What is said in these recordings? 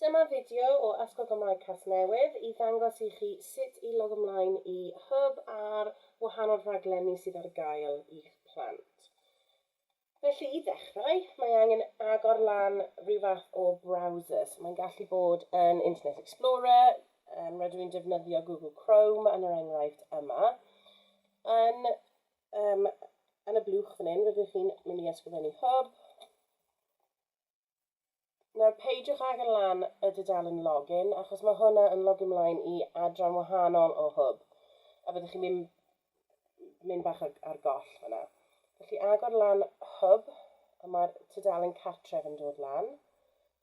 Dyma fideo o Addysgol Gymraeg Casnewydd i ddangos i chi sut i logo mlaen i Hwb a'r wahanol rhaglenni sydd ar gael i'ch plant. Felly, i ddechrau, mae angen agor lan rhyw fath o browser. So, mae'n gallu bod yn Internet Explorer, um, rydw i'n defnyddio Google Chrome yn yr enghraifft yma. Yn, um, yn y blwch fan hyn, rydych chi'n mynd i ysgrifennu Hwb, Nawr peidiwch ag yn lan y dudalen login achos mae hwnna yn logio mlaen i adran wahanol o hwb a byddwch chi'n mynd, mynd bach ar, ar goll fyna. Felly agor lan hwb a mae'r tudalen cartref yn dod lan.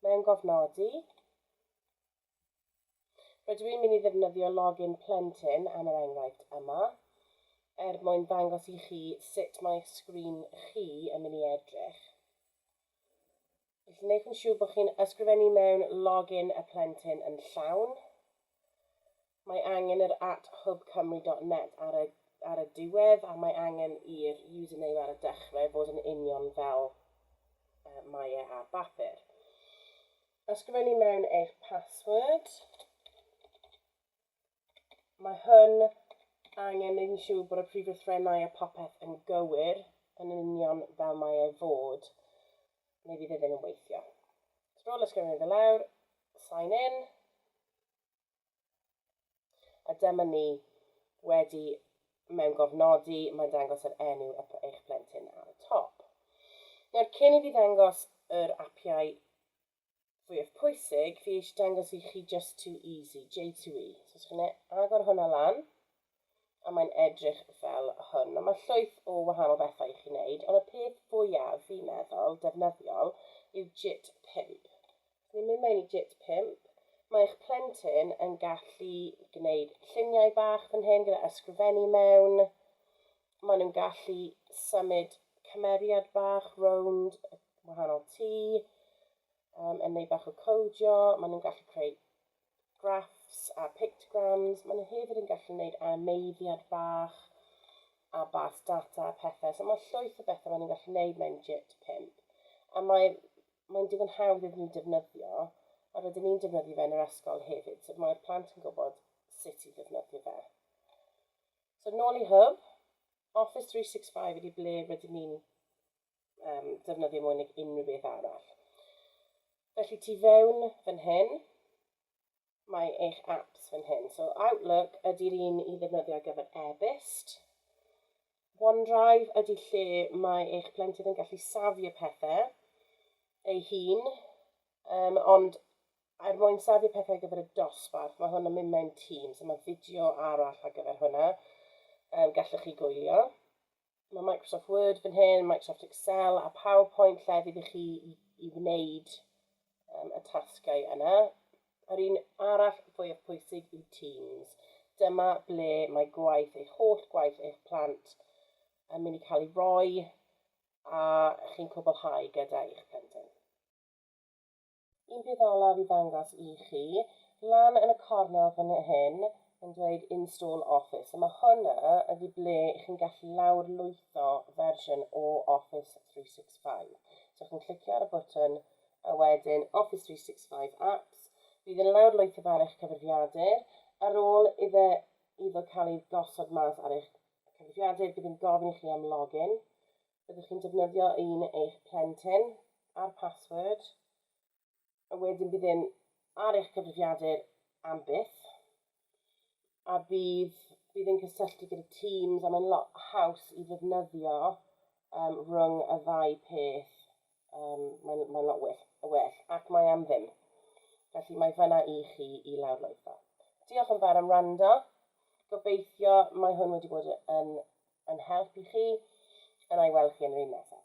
Mewn gofnodi. Rydw i'n mynd i ddefnyddio login plentyn am yr enghraifft yma, er mwyn ddangos i chi sut mae'ch sgrin chi yn mynd i edrych. Felly wnewch yn siŵr bod chi'n ysgrifennu mewn login y plentyn yn llawn, mae angen yr at hubcymru dot net ar y ar y diwedd a mae angen i'r username ar y dechrau fod yn union fel uh, mae e ar bapur. Ysgrifennu mewn eich password. Mae hwn angen neud yn siŵr bod y prif lythrennau a popeth yn gywir yn union fel mae ei fod, neu fydd e ddim yn weithio. Sbrol ysgrifennu fe lawr, sign in, A dyma ni wedi mewn gofnodi, mae'n dangos yr enw eich plentyn ar y top. Nawr, cyn i fi ddangos yr apiau fwyaf pwysig, fi eisiau dangos i chi Just Too Easy, J2E. So, os chi'n agor hwnna lan, a mae'n edrych fel hwn. Nawr mae llwyth o wahanol bethau i chi wneud, ond y peth fwyaf fi'n meddwl defnyddiol yw JIT 5. Os ni'n mynd mewn i JIT 5, mae eich plentyn yn gallu gwneud lluniau bach fan hyn gyda ysgrifennu mewn. Maen nhw'n gallu symud cymeriad bach rownd y wahanol tŷ, um, yn neud bach o codio, maen nhw'n gallu creu graffs a pictograms. Maen nhw hefyd yn gallu gwneud animeiddiad bach a bars data a pethau. So mae llwyth o bethau maen nhw'n gallu gwneud mewn JIT 5. A mae'n mae digon hawdd iddyn nhw defnyddio, a rydyn ni'n defnyddio fe yn yr ysgol hefyd. So mae'r plant yn gwybod sut i ddefnyddio fe. So nôl i Hub, Office 365 ydy ble rydyn ni'n um, defnyddio mwy nag unrhyw beth arall. Felly tu fewn fan hyn, mae eich apps fan hyn. So Outlook ydy'r un i ddefnyddio ar gyfer e-byst. OneDrive ydy lle mae eich plentyn yn gallu safio pethau ei hun, um, ond er mwyn safio pethau ar gyfer y dosbarth, mae hwn yn mynd mewn tîm, so mae fideo arall ar gyfer hwnna, um, gallwch chi gwylio. Mae Microsoft Word fan hyn, Microsoft Excel a PowerPoint llefydd i chi i, i wneud um, y tasgau yna. Yr un arall fwyaf pwysig yw Teams. Dyma ble mae gwaith, eich holl gwaith eich plant yn mynd i cael ei roi a chi'n cwblhau gyda eich plentyn. un peth olaf i ddangos i chi, lan yn y cornel fan hyn, mae'n dweud Install Office, a mae hwnna ydi ble i chi'n gallu lawr lwytho fersiwn o Office 365. So chi'n clicio ar y bwtwn a wedyn Office 365 Apps, bydd yn lawr lwytho ar eich cyfrifiadur, ar ôl iddo, iddo cael ei gosod mas ar eich cyfrifiadur, bydd yn gofyn i chi am login, Byddwch chi'n defnyddio un eich plentyn a'r password, a wedyn bydd e'n ar eich cyfrifiadur am byth, a bydd, bydd e'n cysylltu gyda Teams, a mae'n lot haws i ddefnyddio um, rhwng y ddau peth. Yym, mae'n mae'n lot well, well, ac mae am ddim. Felly mae fyna i chi i lawrlwytho. Diolch yn fawr am rando. Gobeithio mae hwn wedi bod yn, yn help i chi. Yna i weld chi yn yr un nesaf.